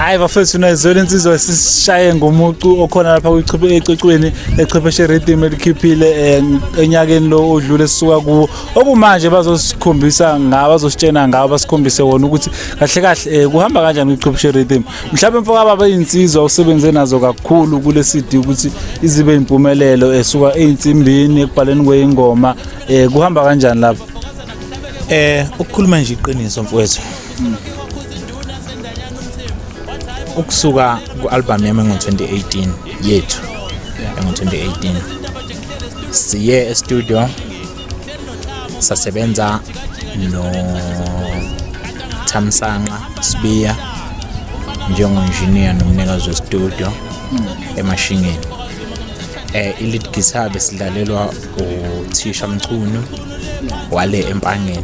hayi bafethu nayizwela insizwa esishaye ngomucu okhona lapha ecocweni echwepheshe rhythm elikhiphile eh, enyakeni lo odlule sisuka kuwo okumanje bazosikhombisa ngawo bazositshena ngawo basikhombise wona ukuthi kahle kahle eh, kuhamba kanjani ichwepheshe rhythm mhlawumbe mfoka baba iyinsizwa usebenze nazo kakhulu kule CD ukuthi izibe impumelelo esuka eh, einsimbini ekubhaleni kweingoma kuhamba kanjani lapho eh ukukhuluma nje iqiniso mfowethu ukusuka ku-albhamu yami engo-2018 yethu engo-2018 siye estudio sasebenza nothamsanqa sibiya njengo-engineer nomnikazi westudio emashingeni eh i-lead guitar besidlalelwa uthisha mchunu wale empangeni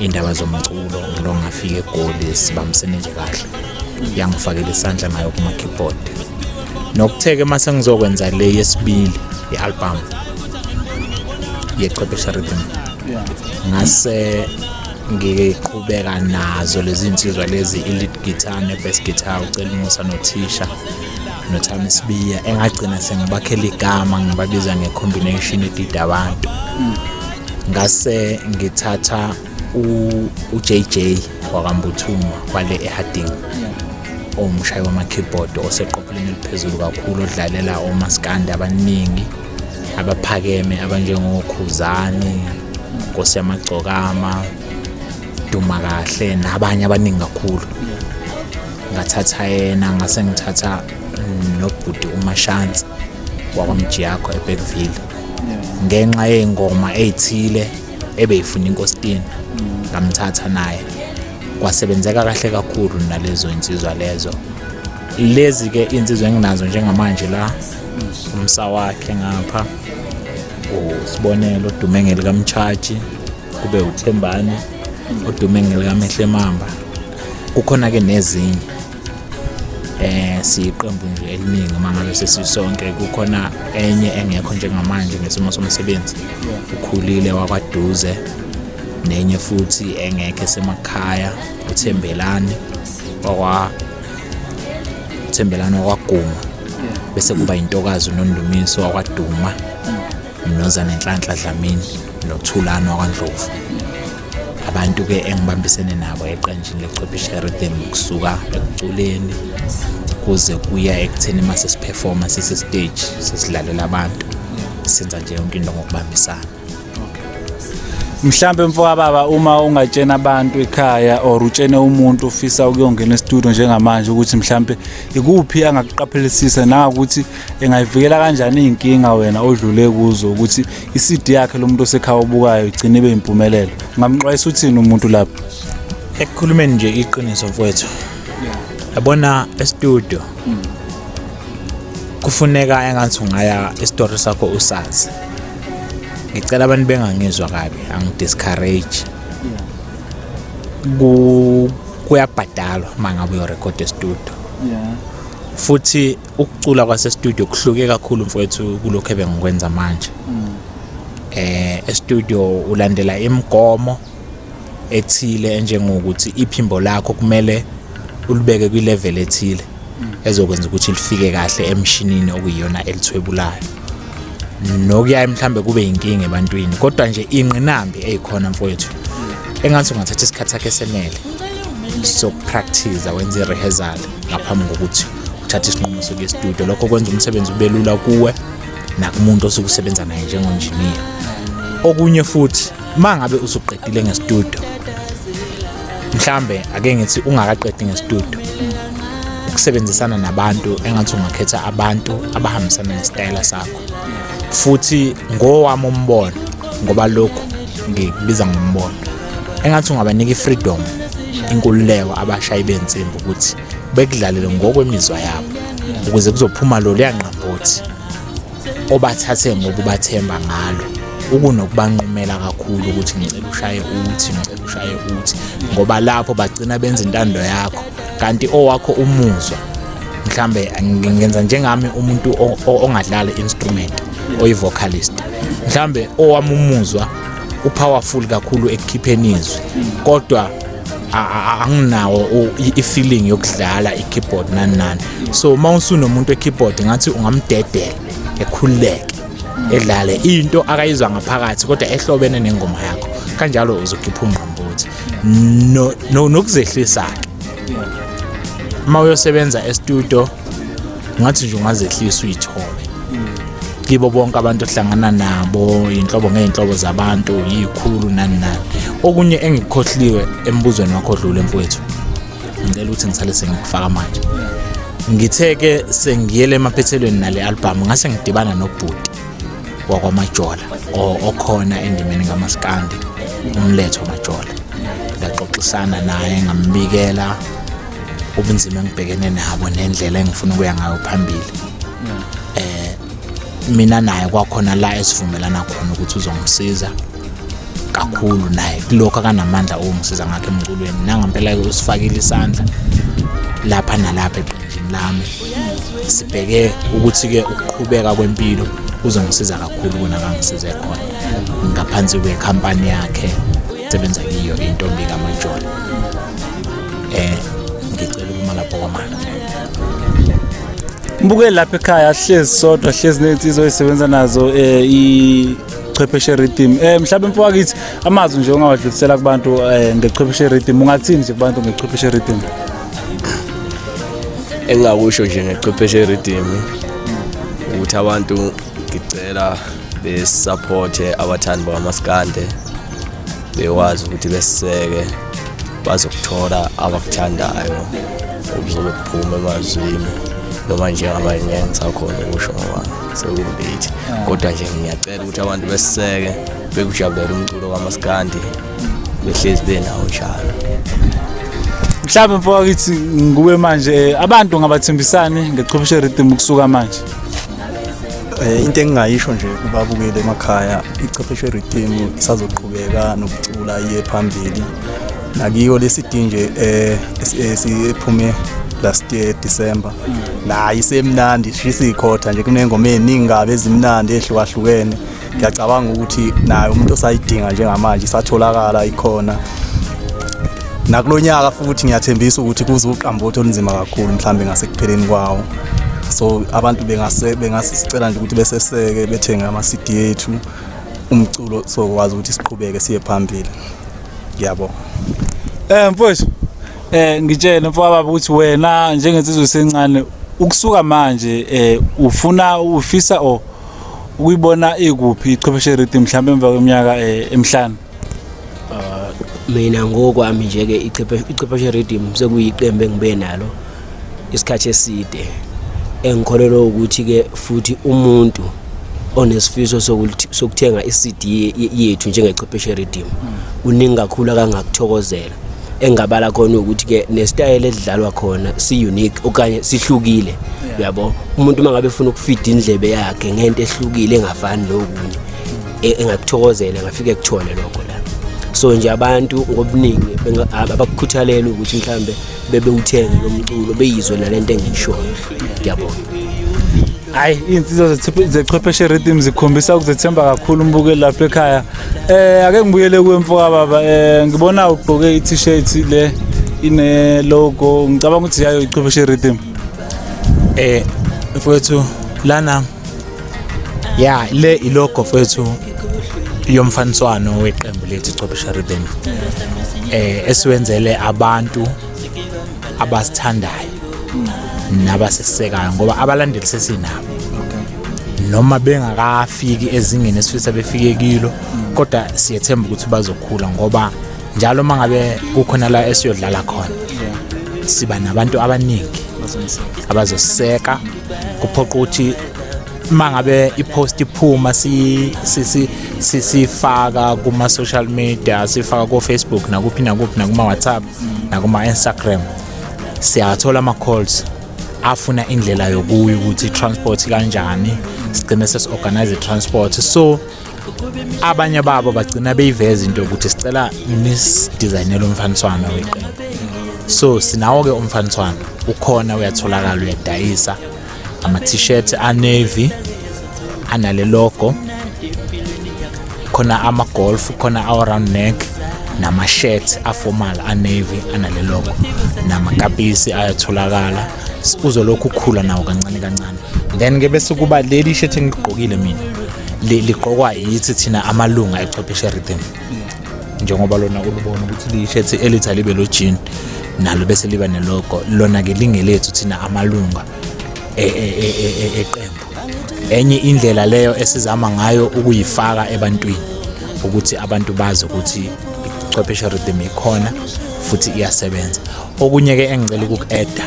iy'ndaba zomculo ngilo ngafika egoli sibambisene nje kahle yangifakela isandla nayo kuma-keyboard nokutheke uma sengizokwenza le yesibili i-albhamu yechwephesha rhythm ngase ngiqhubeka nazo lezi nsizwa lezi i-lead guitar ne-best guitar ucela umusa nothisha nothami sibiya engagcina sengibakhela igama ngibabiza nge-combination edida abantu mm. ngase ngithatha uJJ wakambuthuma kwale eHarding owumshayi wama-keyboard oseqopheleni eliphezulu kakhulu odlalela omaskandi abaningi abaphakeme abanjengokhuzani nkosi yamagcokama duma kahle nabanye abaningi kakhulu ngathatha yena ngase ngithatha nobhuti umashansi wakwamjiyakho ebekville ngenxa yey'ngoma ey'thile ebeyifuna inkositini ngamthatha naye kwasebenzeka kahle kakhulu nalezo insizwa lezo lezi-ke iy'nsizwa enginazo njengamanje la umsa wakhe ngapha usibonelo odume ngelikamtshaji kube uthembane odume ngelikamehle mamba kukhona-ke nezinye eh siyiqembu nje eliningi uma ngabe sesisonke kukhona enye engekho njengamanje ngesimo somsebenzi ukhulile wakwaduze nenye futhi engekho esemakhaya uthembelani wakwa uthembelani wakwaguma bese kuba intokazi nondumiso wakwaduma Mnozane Nhlanhla Dlamini noThulani wakwaNdlovu abantu-ke engibambisene nabo eqenjini lechwepheshe rhythm kusuka ekuculeni kuze kuya ekutheni uma sesiphefoma sisestage sesidlalela abantu senza nje yonke into ngokubambisana mhlambe mfoka baba uma ungatshena abantu ekhaya or utshene umuntu ufisa ukuyongena estudio njengamanje ukuthi mhlambe ikuphi angakuqaphelisisa nangakuthi engayivikela kanjani iy'nkinga wena odlule kuzo ukuthi i-cd yakhe lo muntu osekhaya obukayo igcine ibe yimpumelelo ngamxwayisa uthini umuntu lapho ekukhulumeni nje iqiniso mfowethu yabona estudio kufuneka engathi ungaya isitori sakho usazi ngicela abantu bengangizwa kabi angidiscourage kuyabhadalwa uma ngabe uyorekhoda estudio futhi ukucula kwasestudio kuhluke kakhulu mfowethu kulokhu ebengikwenza manje mm. eh estudio ulandela imigomo ethile enjengokuthi iphimbo lakho kumele ulibeke kwilevel ethile mm. ezokwenza ukuthi lifike kahle emshinini okuyiyona elithwebulayo nokuyaye mhlambe kube yinkinga ebantwini kodwa nje inqinambi eyikhona mfowethu mm. engathi ungathatha isikhathi sakhe senele sokupractice wenze i-rehearsal ngaphambi kokuthi uthatha isinqumo sokuya estudio lokho kwenza umsebenzi ube lula kuwe nakumuntu osuke usebenza naye njengonjiniya okunye futhi uma ngabe usuqedile ngestudio mhlambe ake ngithi ungakaqedi ngestudio ukusebenzisana nabantu engathi ungakhetha abantu abahambisana nesitayela sakho futhi ngowami umbono ngoba lokhu ngikubiza ngombono engathi ungabanika i-freedom inkululeko abashayi bensimbi ukuthi bekudlalele ngokwemizwa yabo ukuze kuzophuma lo luyangqambothi obathathe ngokubathemba ngalo ukunokubanqumela kakhulu ukuthi ngicela ushaye uthi ngicela ushaye uthi ngoba lapho bagcina benza intando yakho kanti owakho umuzwa mhlambe ngenza njengami umuntu ongadlala instrument oyivocalist mhlambe owami umuzwa upowerful kakhulu ekukhipheni izwi kodwa anginawo i-feeling yokudlala i-keyboard nani nani so uma usunomuntu we-keyboard ngathi ungamdedela ekhululeke edlale into akayizwa ngaphakathi kodwa ehlobene nengoma yakho kanjalo uzokhipha ungqambuthi nokuzehlisa-ke uma uyosebenza estudio ngathi nje ungazehlisa uyithole kibo bonke abantu ohlangana nabo inhlobo ngeenhlobo zabantu yikhulu nani nani okunye engikukhohliwe embuzweni wakho dlule mfowethu ngicela ukuthi ngisale sengikufaka manje ngithe ke sengiyele emaphethelweni nale album ngase ngidibana nobhuti wakwamajola okhona endimeni ngamaskandi umletho majola ngaxoxisana naye ngambikela ubunzima engibhekene nabo nendlela engifuna ukuya ngayo phambili eh mina naye kwakhona la esivumelana khona ukuthi uzongisiza kakhulu naye kulokho akanamandla owungisiza ngakho emculweni nangampela-ke usifakile isandla lapha nalapha eqenjini lami sibheke ukuthi-ke ukuqhubeka kwempilo kuzongisiza kakhulu kunakangisize khona ngaphansi kwekhampani yakhe sebenza kiyo intombi kamajola eh ngicela ukuma lapho kwamanje Mbukeli lapha ekhaya sihlezi sodwa sihlezi nezinsizwa ezisebenza nazo eh i chwepheshe rhythm eh mhlawumbe mfokakithi amazwi nje ongawadlulisela kubantu eh ngechwepheshe rhythm ungathini nje kubantu ngechwepheshe rhythm engingakusho nje ngechwepheshe rhythm ukuthi abantu ngicela besupporte abathandi bamaskande bekwazi ukuthi besiseke bazokuthola abakuthandayo okuzobe kuphume emazwini noma njengamanje ngeke ngisakhona ukusho ngoba sekungibithi kodwa nje ngiyacela ukuthi abantu besiseke bekujabulele umculo kamaskandi behlezi benawo njalo mhlawumbe mfoka kithi nguwe manje abantu ngabathembisani ngechobishe rhythm ukusuka manje Eh, into engingayisho nje kubabukeli emakhaya ichwepheshe rhythm isazoqhubeka nokucula iye phambili nakiyo lesidi nje eh esiphume last year December nayi semnandi shisa ikhotha nje kunengoma eziningi kabi ezimnandi ehlukahlukene ngiyacabanga ukuthi naye umuntu osayidinga njengamanje isatholakala ikhona nakulo nyaka futhi ngiyathembisa ukuthi kuze uqambotho olunzima kakhulu mhlawumbe ngasekupheleni kwawo so abantu bengase bengasicela nje ukuthi beseseke bethenge ama-cd yethu umculo sokwazi ukuthi siqhubeke siye phambili ngiyabonga um mfowethu um ngitshele mfowababa ukuthi wena njengensizwe sencane ukusuka manje um ufuna ufisa or ukuyibona ikuphi ichwepheshe rhythm mhlawumbe emva kweminyaka eh, emihlanu ah, mina ngokwami nje-ke ichwepheshe rhythm sekuyiqembu engibe nalo isikhathi eside engikholelwa ukuthi-ke futhi umuntu onesifiso sokuthenga i-CD yethu njengechwepheshe rhythm uningi kakhulu akangakuthokozela engabala khona ukuthi ke nestyle edlalwa khona si unique okanye sihlukile uyabo umuntu mangabe efuna ukufida indlebe yakhe ngento ehlukile engafani nokunye e, engakuthokozela ngafike kuthole lokho la so nje abantu ngobuningi abakukhuthalela ukuthi mhlambe bebe uthenge lomculo beyizwe nalento engishoyo ngiyabona hayi iy'nsiza zechwepheshe rhythm zikhombisa ukuzethemba kakhulu umbukeli lapha ekhaya eh ake ngibuyele kuwe mfoka baba eh ngibona ugqoke i-t-shirt le ine logo ngicabanga ukuthi yayo ichwepheshe rhythm eh mfowethu lana ya le ilogo mfowethu yomfaniswano weqembu lethu ichwepheshe rhythm eh esiwenzele abantu abasithandayo nabasesekayo ngoba abalandeli sesinabo noma bengakafiki ezingeni esifisa befike kilo kodwa siyethemba ukuthi bazokhula ngoba njalo uma ngabe kukhona la esiyodlala khona siba nabantu abaningi abazoseka kuphoqa ukuthi uma ngabe i-post iphuma siyifaka kuma-social media siyifaka kofacebook nakuphi nakuphi nakuma-whatsapp si, si, si, si, si, si, si, si, si, si, si, nakuma-instagram siyathola ama-calls afuna indlela yokuya ukuthi i-transport kanjani sigcine sesi-organize i-transport so abanye babo bagcina beyiveza into yokuthi sicela nisidizayinele umfaniswano weqembu so sinawo-ke umfaniswano ukhona uyatholakala uyadayisa ama-t-shirt anavy anale logo khona ama-golf khona awa-round neck nama-shirt aformal anavy anale logo namakapisi ayatholakala uzolokhu ukhula nawo kancane kancane then-ke bese kuba leli shirt engigqokile mina ligqokwa yithi thina amalunga echwepheshe rhythm njengoba lona ulubona ukuthi liyishethi elithi alibe lo jean nalo bese liba nelogo lona-ke lingelethu thina amalunga e, e, e, eqembu enye indlela leyo esizama ngayo ukuyifaka ebantwini ukuthi abantu bazi ukuthi chwepheshe rhythm ikhona futhi iyasebenza okunye ke engicela ukuku-eda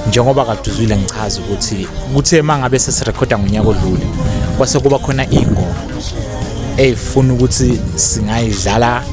njengoba kade uzwile ngichaza ukuthi kuthe uma ngabe sesirekhoda ngonyaka odlule kwase kuba khona iy'ngoma ey'funa ukuthi singayidlala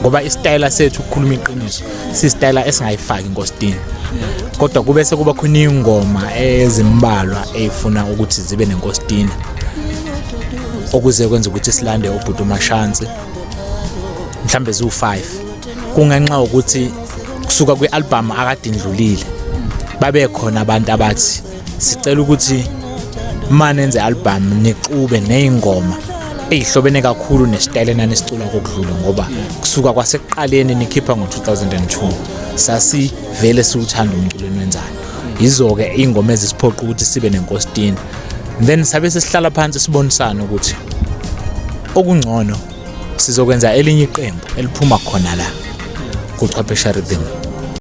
ngoba isitayela sethu ukukhuluma iqiniso sisitayela esingayifaki ngostini kodwa kube sekuba khona iy'ngoma ezimbalwa ey'funa ukuthi zibe nenkostina okuze kwenza ukuthi silande ubhuti umashansi mhlambe ziwu-five kungenxa yokuthi kusuka kwi-album akadindlulile babe khona abantu abathi sicela ukuthi uma nenze album nixube ney'ngoma eyihlobene kakhulu nesitayela nanisicula kokudlula ngoba kusuka kwasekuqaleni nikhipha ngo-2002 sasivele siwuthanda umculo enwenzayo yizo-ke iy'ngoma ezisiphoqa ukuthi sibe nenkositini then sabe sesihlala phansi sibonisane ukuthi okungcono sizokwenza elinye iqembu eliphuma khona la kuchwephesha rhythm